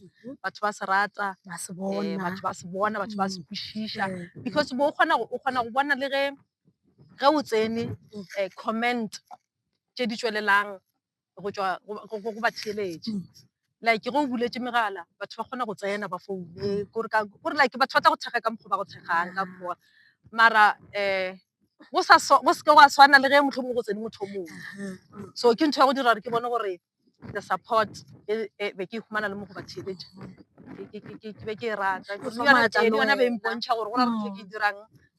batho ba se rata ba se eh, bona batho ba se bona batho ba se kwešiša Eh, because bo o kgona go o kgona go bona le ge ge o tsene um comment tše di tšwelelang go tšwa go- go go- go batheeletši like ge o buletše megala batho ba kgona go tsena ba foune kore like batho ba tla go thekga ka mokgwa o ba go thekgang ka mokgwa. Mara go seke gwa tshwana le ge mohlomongwe go tsene motho o mongwe, so ke ntho ya go dira gore ke bone gore the support e be ke e humana le mo go ba theeletša ke be ke e rata, ke yona e be e mpontšha gore go na le ntho e ke e dirang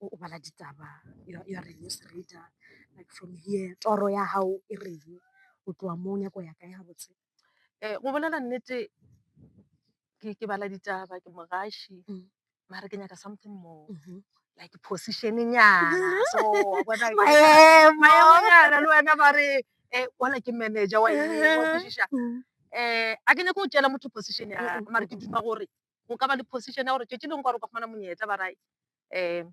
o bala ditaba ya re news reader like from here toro ya gago e reng o tloa mo nyako ya ka ya botse um go bolela nnete ke bala ditaba ke mogaši mm. mare ke nyaka something more mm-hmm. like position nyana so bona maemonyana le wena ba re um wala ke manager wa eng wa kwešiša um a ke nyako o tšela motho position ya mare ke duma gore go ka ba le position ya gore tšatši lengwe gore o ka fumana monyetla ba ra um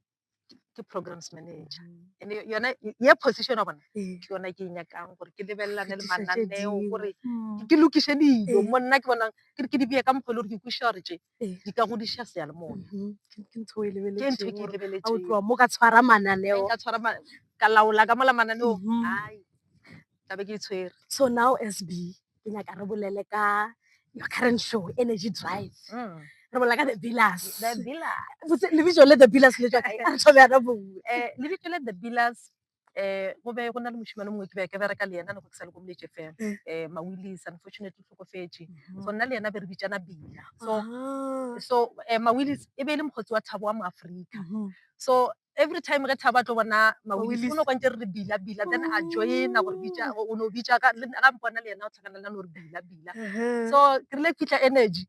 ke programs manager and yona ye position wa bona ke yona ke e nyakang gore ke lebelelane le mananeo gore ke lokiše dilo mo nna ke bonang ke re ke di beye ka mokgwa e le gore ke kwešiša gore tše di ka godiša seyalemoya ke ntho e lebeletsego tloga mo ka tshwara mananeo ka tshwara ka laola ka mola mananeong ai tla be ke di tshwere so now sb ke nyaka re bolele ka your current show energy drive mm. re bolela ka the villas the villas lebitso le the villas le tswaka a re thobe yana bongwe eh lebitso le the villas eh go be go na le moshimane mongwe ke be ke bereka le yena ne go ke sa le ko moletše fela mm. eh mawilis unfortunately tlhokofetše mm-hmm. so nna le yena be re bitsana bila so ah. so eh mawilis e be e le mokgotsi wa thabo wa moaforika mm-hmm. so every time ge thabo a tlo bona mawilisi o no kwantse re re bila bila then a joina gore bitša o no bitša ka le- ga mpona le yena o tlhakana le a no re bila bila so ke rile ke fitlha energy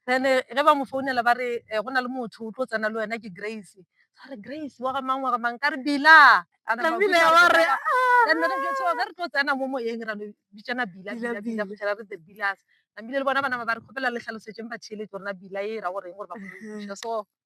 then ge ba mo founela ba re eh, go na le motho o tlo tsena le wena ke grace a re grace wa ga mang wa ga mang ka re bila A re, Ka bila, "Mabitla, wa re, "Ah." Then re jwetsa gore ge re tlo tsena mo moyeng ra no bitsana bila Bila, bila bila bila. go fitlhela re the bilas namile le bona banama ba re kgopela le tlhalosetseng batheeletsi gore na bila e ra goreng gore ba kgone go thuša so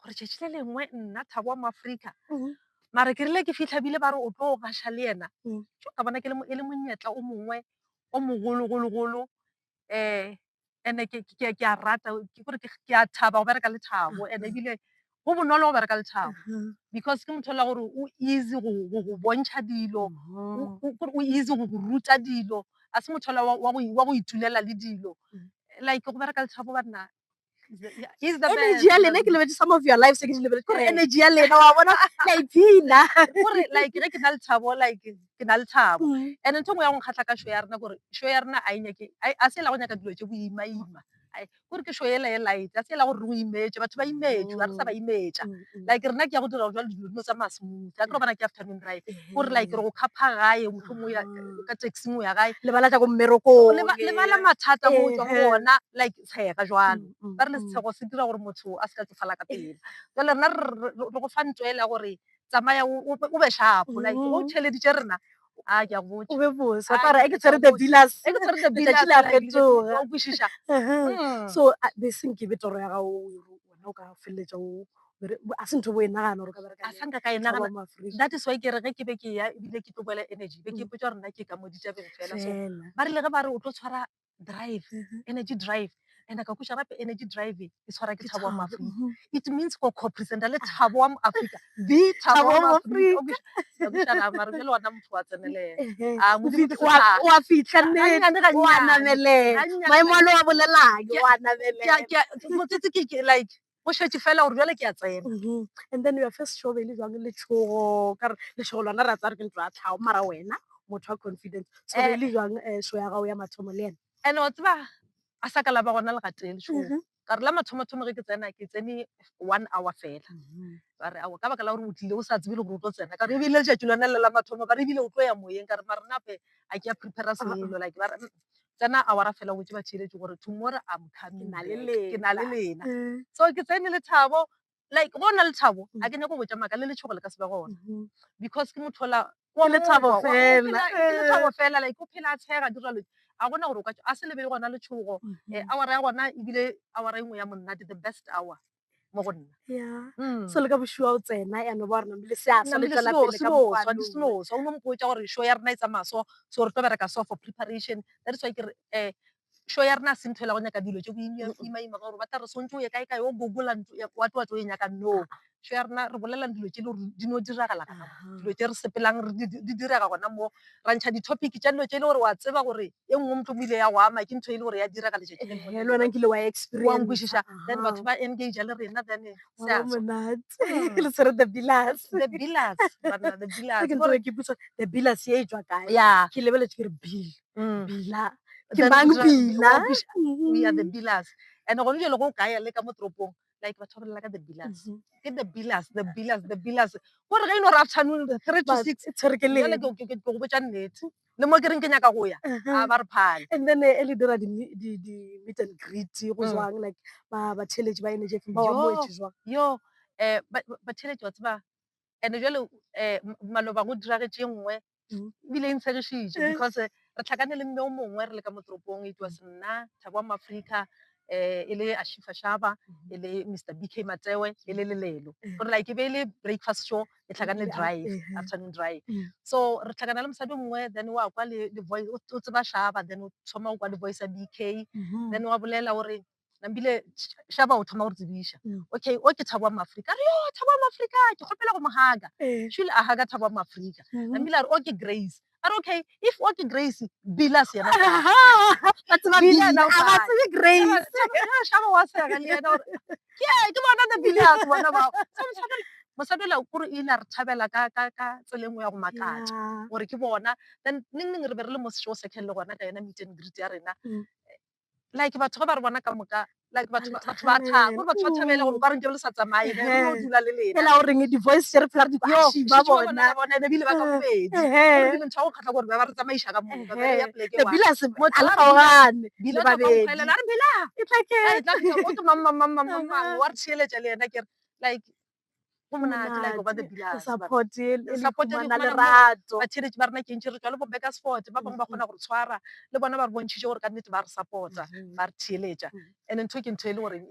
gore tšatši le lengwe nna thabo wa moaforika mm-hmm. mare ke rile ke fitlha bile ba re o tlo gaša le yena mm. jo ka bona e le monyetla o mongwe o mogologologolo um eh, ande ke a rata ke gore ke a thaba go bereka le thabo and mm-hmm. ebile go bonolo go bereka le thabo mm-hmm. because ke motho la gore o easy go go bontšha dilo o easy go go ruta dilo a se motho wa go itulela le dilo mm. like go bereka le thabo banna energy ya lena ke lebetse some of your life se ke di lebeletse kore energy ya lena wa bona la iphina gore like ge ke na le thabo like ke na le thabo and ntho ngwe ya go nkgatlha ka show ya rena kore show ya rena a e nyake a se e la go nyaka dilo tse boimaima kore ke show ela e light a se e la gore re o imetse batho ba imetswe ga re sa ba imetsa like rena ke ya go dira jalo dilo dino tsa masmooth a kere bana ke afternoon drive gore like re go khapha gae motho mo ka taxing o ya gae lebala tsa ko mmerekong lebala mathata mo tswa go ona like tshega jwalo. Ba rile setshego se dira gore motho a se ka tsofala ka pela. Jwale rena re go fa ntwa ele ya gore tsamaya o be shapo like o mm. theleditše rena a ke a go botša o be bose wa tla re ke tshwere the villas ke tshwere the villas la fetoga o kwishisha mm. so this nke be toro ya ga o wena o ka feleletša o a se ntho bo e nagana gore ka bereka a sanka ka e nagana that is why ke re ge ke be ke ya ebile ke tlo boela energy be ke mm. potsa rena ke ka moditšabeng fela so ba rile ge ba re o tlo tshwara drive mm-hmm. energy drive and ka kuša gape energy drive e tshwara ke thabo wa moafrika mm-hmm. it means go copresenta le thabo wa moafrika the thabo wa moafrikaamare bjale ona motho wa tseneleaoa fitlha nneoanamelemaemo a le wa bolelayo oanamelea like go šetše fela gore jale ke ya tsena mm-hmm. and then ya first show be le jwang letshogo ka re letshogo lona ra tsare ke ntlo ya tlhago mara wena motho wa confidence so be eh. le jwang eh, show ya gago ya mathomo le ena and wa tseba a sa ka la ba gona legateng lešogo mm-hmm. ka re la mathomothomo ge ke tsena ke tsene one hour fela mm-hmm. ba re ao ka baka la gore o tlile o sa tsebe le gore o tlo tsena ka re ebile letšatši lone le la mathomo ba re ebile o tlo ya moyeng ka re marenape a ke ya prepara ah, ah. selo like ba re mm, tsena awara fela wetše ba theeletše gore tomorrow I'm coming Ke na le back. lena. ke na le lena Mm. so ke tsene le thabo like go na le thabo Mm. a ke nyako botša maaka le letshogo le ka se be gona Mhm. because ke motho ola Ke lethabo wa- wa- o fela, phela- ke lethabo eh. fela like o phela a tshega a dira lo a gona gore o ka tšo- a se lebele gona letshogo Mhm. um awara ya gona ebile awara e nngwe ya monate the best hour mo go nna mm. so le ka boshiwa o tsena yano ba rena le seasa le tswela pele ka mokgwa di senosa o no mpotsa gore show ya rena e tsamaya so so re tlo bereka so for preparation that is why ke re eh show ya rena a sentho la go nyaka dilo tse boimaima gore ba tla re swantse o ye kae kae o gogola wa tlowa tlo e nyaka no show ya rena re bolelang dilo tse le gore di no diragala ka dilo tse re sepelang di direga gona mo ra ntsha di-topic tsa dilo tse e le gore wa tseba gore e nngwe motho mo ile ya go ama ke ntho e le gore ya dira ka letšatši le lengwe. le wena nkile wa experience wa nkwešiša then batho ba engage le rena then se a tswa. monate le tshwere the billas the billas banna the billas ke gore ke botsa the billas ye e tswa kae yeah ke lebeletse ke re bill mm. bila ke Then mang utswa- bila wa kweša, we are the billas and gone jalo go o kaya le ka mo toropong like batho ba bolela ka the billers ke the billers the billers the billers ko re ge ino re afternoon three to six tshwere ke jale leng ke ke- ke- ke go botša nnete le mo ke reng ke nyaka go ya a ba re phale and then eh, e le dira di mi- di- di meet and greet go Mm. jwang like ba ba theletše ba enejefeng ba wa Yo. moetše jwang yo um batheletši wa tseba and-e jale um maloba go diragetše nngwe ebile e ntshegišitše because re tlhakane le mme o mongwe re le ka mo toropong it was nna thabo wa maaforika um e le ashifa shaba e le mr b k matewe e le lelelo gore like e be e le breakfast show e tlhakane le drive afternoon drive so re tlhakana le mosadi o mongwe then wa kwa le voice o tseba shaba then o thoma go kwa le voice ya b k then wa bolela o re nambile šaba o thoma go re tsebiša mm. okay o ke thabo wa maafrika re yo thabo wa maafrika ke kgopela go mogaga eh. shule a gaga thabo wa maafrika mm-hmm. nambile a re o ke grace a re okay if o ke grace bilas yena shaba wa sega le yena gore ke bona na bilas bona bao mosadi ola kore o ile a re thabela ka tsela engwe ya go makatša gore ke bona then neng neng re be re le mo seo second le gona ka yona meet and greet ya rena mm. like batho ge ba re bona ka moka like batho ba thaba gore batho ba thabele gore ba re nke le sa tsamaye re no dula le lena ela o reng di-voice share phela re di kwashi ba bona bona ebe bile ba ka bobedi ke ntho ya go kgatlha gore ba ba re tsamaisa ka moka ba ya pleke wa bila se mo tla gaogane bila ba be ela re bila e tla ke o tlo mamma mamma mamma wa re tsheletsa le yena ke like go monate support e fumana lerato batheletši ba rena kentši re tswa le bo bakersford ba bangwe ba kgona go re tshwara le bona ba re bontšhitše gore ka nnete ba re support-a ba re theeletša and ntho ke ntho e le goreng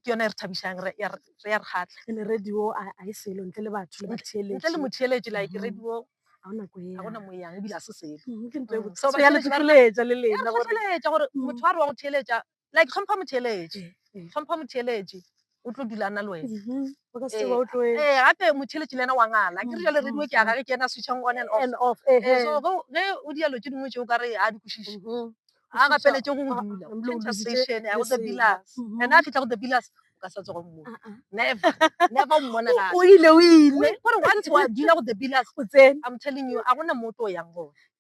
ke yona e re thabišang re ya re kgatlha ene radio a e selo ntle le batho le batheeletši ntle le motheeletši like radio ga ona ko ya ona mo yang ebile a se selo ke ntho e botsa ya le tsoeletša le lena gore motho a re wa go theeletša like tlhompha motheeletši tlhompha motheeletši o tlo dula na le wena mm-hmm. ee eh, gape motheeletši le ena wa ngala ke re jale mm-hmm. radio ke ya gage ke ena switchang on and off eh, eh, so ge o dialo tse dingwe tseo ka re a di kwešiše mm-hmm. a gapeletše go ah, dula conversation ya go the pillars ena a fitlha go the pillars ka sa tsogo mmo ah, ah. never never o mmona ga o ile o ile gore once wa dula go the pillars o tsene i'm telling you a gona moto o yang gone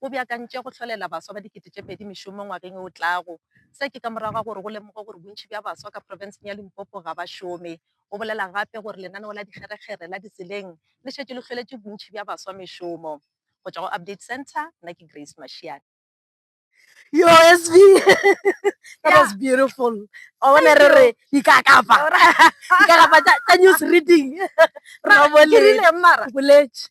o beakantše go hlolela baswa ba dikete tše pedi mešomo ngwageng o tlago. Se ke ka morago ga gore go lemogwe gore bontši bja baswa ka profenseng ya Limpopo ga ba šome. O bolela gape gore lenaneo la dikgerekgere la ditseleng le šetše le hloletše bontši bja baswa mešomo. Go tšwa go Update Centre, nna ke Grace Mashiane. Yoh SV that was beautiful wa bona re re dikakapa dikakapa tša news reading ra boletse.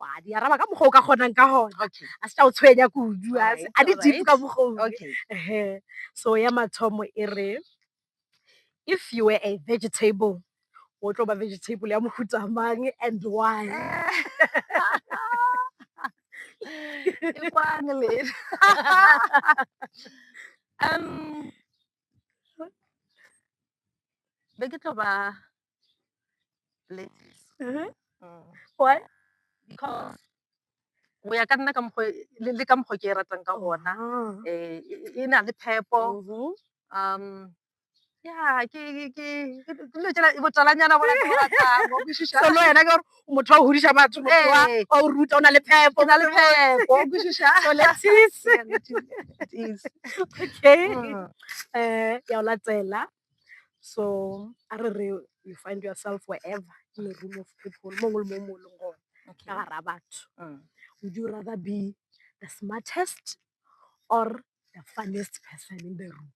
wa di araba ka mokgwa o ka kgonang ka gona okay a se tla o tshwenya kudu a se- a di Alright, deep ka mokgwa o okay Ehe. so ya mathomo e re if you were a vegetable o tlo ba vegetable ya mohuta mang and why Ke kwang le um be ke tlo ba go ya ka nna ka mokgwa le ka mokgwa o ke e ratang ka gona e na le phepo ya ke dilo tšela e botalanyana bo le yena ke motho wa go godiša batho wa go ruta o na le phepo na le phepo o kwešiša okay ya o latela so a re re you find yourself wherever in a room of people mo ngwe le mo mo leng gona Okay. ka gara batho Mm. would you rather be the smartest or the funniest person in the room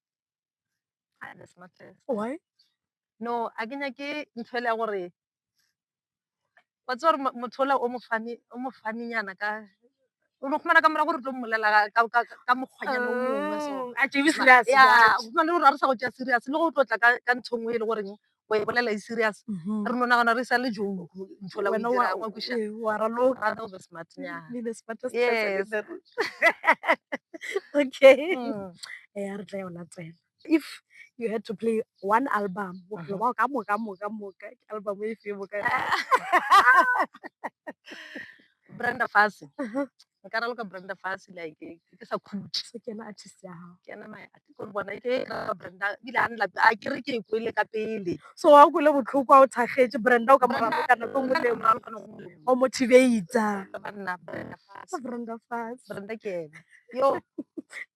Ah, that's not fair. why No, a ke nyake ntho ele ya gore wa tseba gore motho ola o mo funny o mo funny nyana ka o no khumana ka mora gore tlo mmolela ka ka ka mokgwanyana o mongwe so mm, a tšebe serious ya o khumana le gore a re sa go tšea serious le go tlotla ka ka ntho nngwe e le goreng o e bolela e serious Mhm. re no nagana re sa le jo ntho la o e Wena wa- dirang wa kweša ee, wa raloka. Ra tla o be smart nyana. Be the smartest Yes. person in the room. okay Mm. Eh, a re tla ya o latela if you had to play one album bophelo bao ka moka moka moka ke album e fe boka brenda fase nka raloka brenda fase like ke sa khutše so kena artist ya gago kena my artist gore bona ke raloka brenda bile a nla a kere ke e kwele ka pele so wa o kwele botlhoko a o thakgetše brenda o ka moraloka ka nako nngwe le nngwe o motivator banna brenda fase brenda fase brenda ke ena yo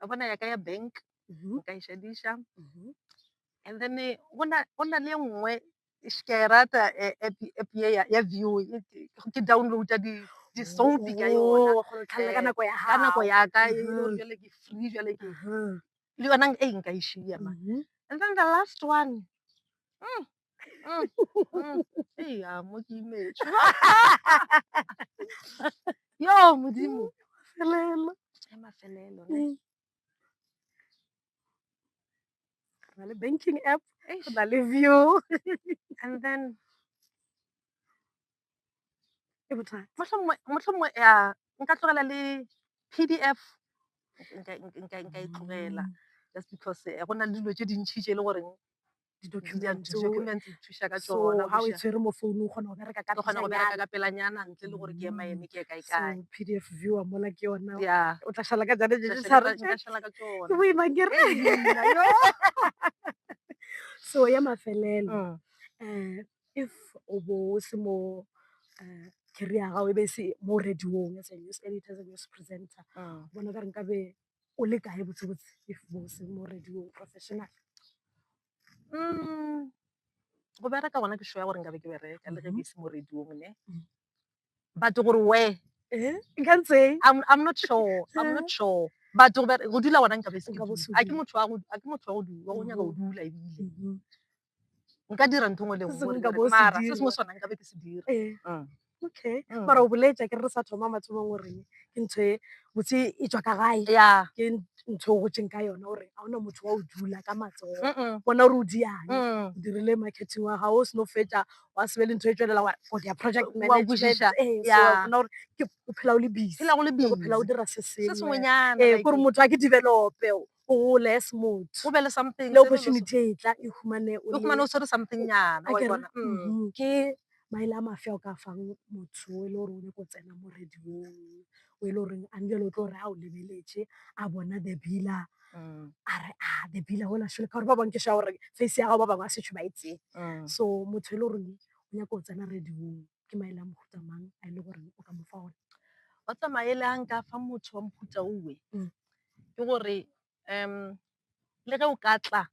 wa bona ya ka ya bank Mhm, o ka e šadiša mhm. and then eh, go na go na le e nngwe sh- ke a e rata eh, app app ye ya- ya view e- ke ke downloada di- di-soapy ka yona Oh, wa kgona go tlhalela ka Eh, nako ya ka nako gago. ya ka e le gore Mhm. jale ke free jale ke Mhm, le yona e nka e šia ma mhm. and then the last one mm, Mm, mm. Ei, ya, mo ke imetšwe. yo modimo Felelo. e mafelelo ne. Mm. Re na le banking app Eish. re na le view and then e bothata mohlomongwe mohlomongwe ya nka tlogela le pdf nka nka- nka nka e tlogela just because eh, go na le dilo tše dintšhi tše e le goreng di-documents tso di-documents di thuša ka so tsona ga o e buša. tshwere mo founung o kgona go bereka ka Ke kgona go bereka pejanyana. ka pelanyana ntle le gore ke ema eme ke ye kae so kae pdf viewer mola ke yona ya o tla šala ka jane jeje sa re nka šala ka ke tsona boima kere Ee, nna, yo. so ya mafelelo Mm. um if o bo o se mo um career ya gago e be e se mo radiong as a news editor as a news presenter Mm. bona ka re nkabe o le kae botsebotse if bose mo radiong professional um go bereka gona ke shoya gore nkabe ke bereka le ge ke ise mo radiong ne but gore where nkantseng i'm not sure i'm not sure but go dula gona nkabe a ke motho wa go nyaka go dula ebile nka dira ntho ngwe le Se sengwe nka bo o se mara se dira. sengwe sona nkabe ke se dira Eh, Mm. okay Mm. mara o boletša ke re re sa thoma mathomong gore ke ntho e botse e tswa ka gae ya ke ntho o gotseng ka yona gore ga ona motho wa o dula ka matsogo Mm-mm. bona gore o diang Mm. o dirile marketing wa gago o seno fetša wa sebe le ntho e tswelela wa for their project Wa management. kwešiša, Eh, so yeah. wa bona gore ke o phela o le busy phela go le le go phela o busy. dira se se sengwe sengwenyana ee like- gore motho a ke develope o gole as motho o be le something le opportunity e tla e humane o le humane o tshwere something nyana wa bona mm-hmm. ke maele a mafia o ka fang motho e le gore o nyako tsena mo radiong o e le goreng a njele o tlo gore a o lebeletse a bona the bila mm. a re a ah, the bila ola shole ka gore ba bangwe ke sha gore face ya gago ba bangwe a setšho ba etseng mm. so motho e le goreng o nyako o tsena radiong ke maele a mohuta mang a e le goreng o ka mo fa ona wa tsamaele a nka fa motho wa mohuta owe mm. ke gore um le ge o ka tla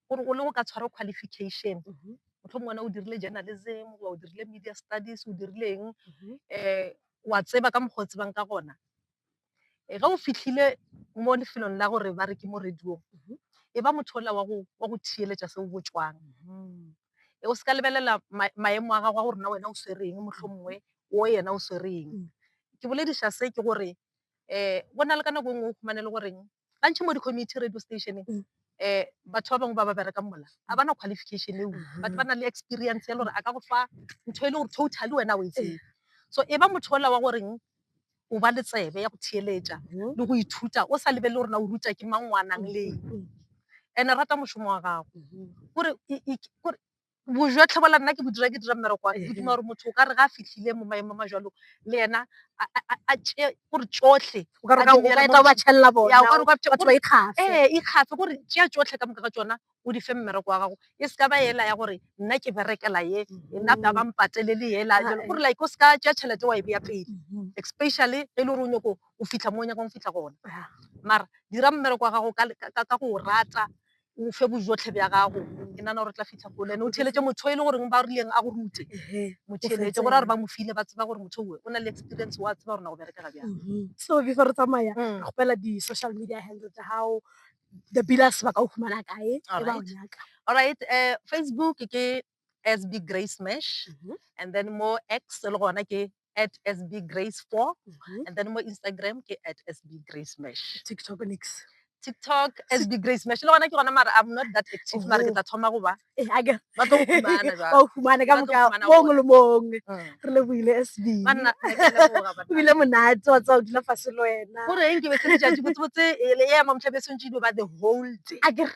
gore o le go ka tshwara qualification Mhm. motlhomong wena o dirile journalism goba o dirile media studies o dirileng Mhm. um wa tseba ka mokgwa o tsebang ka gona Eh, ge o fitlhile mo lefelong la gore ba re ke mo radiong Mhm. e ba motho ola wa go wa go theeletša se o botšwang Mhm. e o se ka lebelela ma- maemo a gago a gore na wena o swereng mohlomongwe o yena o swereng Mm. ke bolediša se ke gore go na le ka nako e nngwe o fumane e le goreng ba ntšha mo di-community radio station-eng batho ba bangwe ba ba berekang mola ga ba na qualification eo, batho ba na le experience ya le gore a ka go fa ntho e le gore totally wena ga o e tsebe. So e ba motho ola wa goreng o ba le tsebe ya go theeletša le go ithuta o sa lebelele gore na o rutwa ke mang, o a nang le eng and-e rata mošomo wa gago. Kore bojwa tlhobola nna ke bo dira ke dira mmereko wa ke duma gore motho o ka re ga a fitlhile mo maemo a majalo le ena a tšee gore tsotlhe ee ikgafe kore tšea tsotlhe ka moka ga tsona o di fe mmereko wa gago e seka ba ela ya gore nna ke berekela ye nna ba ba mpatelele ela gore like o seka tšea tšhelete wa e beya pele especially ge e le gore o nyako o fitlha mo o nyakang go fitlha gona mara dira mmereko wa gago ka go o rata o fe bojotlhe bja gago ke nana gore o tla fitlha kole ene o theeletše motho e le goreng ba rileng a go rute mo theeletše gore a re ba mo file ba tseba gore motho oe o na le experience wa tseba gore na go berekega bjang mm-hmm. so before re tsamaya mm. re gopela di-social media handle tsa gago the billas ba ka o fumana kae e ba o nyaka alright um facebook ke sb grace mash mm-hmm. and then mo x e le gona ke at sb grace four Mhm. and then mo instagram ke at sb grace mash tiktok nix tiktok sb grace mash le gona ke gona mara i'm not that active mara ke Oho. tla thoma goba Eh, a ke- ba tlo go fumana jwale. ba o fumane ka Ba tlo boka fumana mongwe le mongwe Mm. re lebohile sb Banna, ke a leboga, banna. ebile monate wa tsa o dula fase le wena gore eng ke be se letšatši botsebotse ele ea mamtlhabesong tše dilo ba the whole day a ke re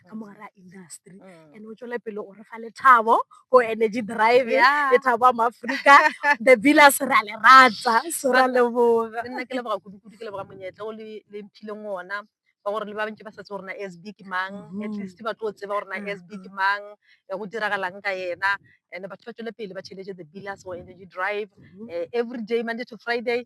ka mo gare a industry mm. and o tswele pele o re fa lethabo go energy drive lethabo a maaforika the villas re a le ratsa so ra leboga nna ke leboga kudu-kudu ke leboga monyetla o le mphileng ona ba gore le ba bantši ba setse gore na sb ke mang mm. at least ba tlo tseba gore na mm. sb ke mang eh, go diragalang ka yena and batho ba tswele pele ba tšheletse the villas or energy drive mm-hmm. eh, every day monday to friday